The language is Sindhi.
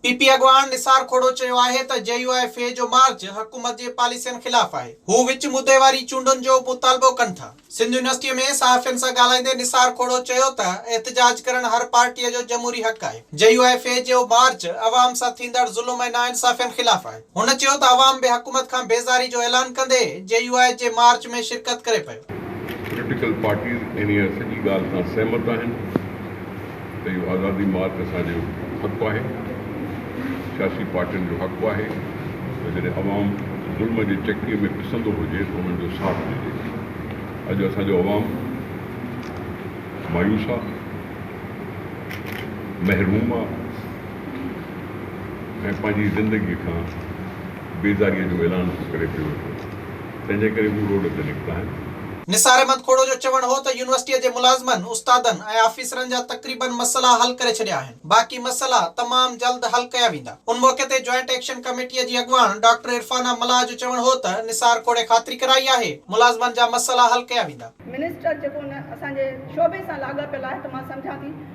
پي پي اڳواڻ نثار کوڙو چيو آهي ته جي يو آء ايف اي جو مارچ حڪومت جي پاليسين خلاف آهي، هو وچ مدي واري چونڊن جو مطالبو ڪن ٿا. سنڌ يونيورسٽيء ۾ صحافين سان ڳالهائيندي نثار کوڙو چيو ته احتجاج ڪرڻ هر پارٽيء جو جمهوري حق آهي، جي يو آء ايف اي جو مارچ عوام سان ٿيندڙ ظلم ۽ ناانصافين خلاف آهي. هن چيو ته عوام به حڪومت کان بيزاري جو اعلان ڪندي جي يو آء جي مارچ ۾ شرڪت ڪري پيو. پوليٽيڪل پارٽيز انهيء سڄي ڳالهه سان سهمت آهن ته اهو آزادي مارچ اسان جو حق آهي، سياسي پارٽين جو حق آهي ته جڏهن عوام ظلم جي چڪيء ۾ پسندو هجي ته انهن جو ساٿ ڏجي. اڄ اسان جو عوام مايوس آهي، محروم آهي. ۽ پنهنجي زندگيء کان بيزاريء جو اعلان ٿو ڪري پيو وٺو، تنهنجي ڪري هو روڊ تي نڪتا آهن. نثار احمد کوڙو جو چوڻ هو ته يونيورسٽيء جي ملازمن، استادن ۽ آفيسرن جا تقريبن مسئلا حل ڪري ڇڏيا آهن، باقي مسئلا تمام جلد حل ڪيا ويندا. ان موقعي تي جوائنٽ ايڪشن ڪميٽيء جي اڳواڻ ڊاڪٽر عرفانه ملاح جو چوڻ هو ته نثار کوڙي خاطري ڪرائي آهي، ملازمن جا مسئلا حل ڪيا ويندا. منسٽر جيڪو ان اسان جي شعبي سان لاڳاپيل آهي ته مان سمجهان ٿي